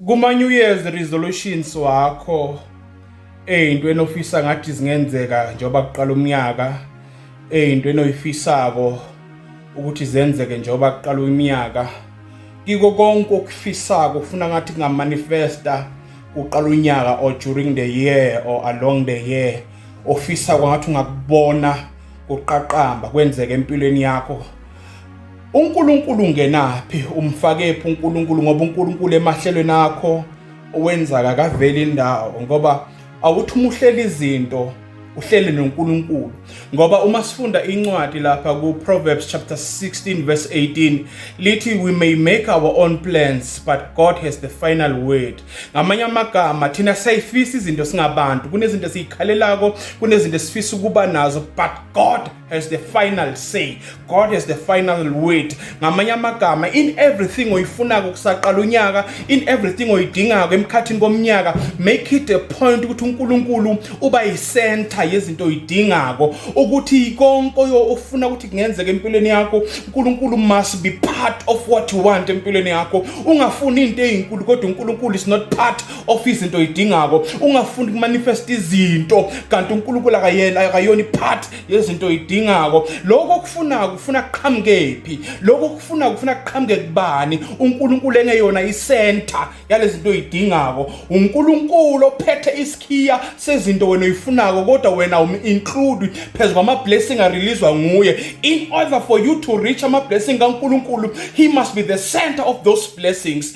Kuma New Year's resolutions wakho ezinto enofisa ngathi zingenzeka njengoba kuqala umnyaka ezinto enoyifisako ukuthi zenzeke njengoba kuqala umnyaka kiko konke okufisako ufuna ngathi kungamanifesta uqala unyaka or during the year or along the year ofisa kwangathi ungakubona kuqaqamba kwenzeke empilweni yakho UNkulunkulu ungenaphi? Umfakephi uNkulunkulu? Ngoba uNkulunkulu emahlelweni akho owenza kakaveli indawo ngoba awuthi uma uhlela izinto uhlele noNkulunkulu ngoba uma sifunda incwadi lapha ku-Proverbs chapter 16 verse 18 lithi we may make our own plans but God has the final word ngamanye amagama thina sayifisa izinto singabantu kunezinto esiyikhalelako kunezinto esifisa ukuba nazo but God has the final say god has the final word ngamanye amagama in everything oyifunako kusaqala unyaka in everything oyidingako emkhathini komnyaka make it a point ukuthi uNkulunkulu uba yicenter yezinto oyidingako ukuthi konke ofuna ukuthi kungenzeka empilweni yakho uNkulunkulu must be part of what you want empilweni yakho ungafuni into ezinkulu kodwa uNkulunkulu is not part ofisa izinto oyidingako ungafuni kumanifesta izinto kanti unkulunkulu akayena akayona ipart yezinto oyidingako lokho okufunako kufuna kuqhamukephi lokho okufunako kufuna kuqhamuke kubani unkulunkulu engeyona isenta yalezi zinto oyidingako unkulunkulu ophethe isikhiya sezinto wena oyifunako kodwa wena um-include phezu kwama-blessing areleaswa nguye in order for you to reach ama-blessing kankulunkulu he must be the center of those blessings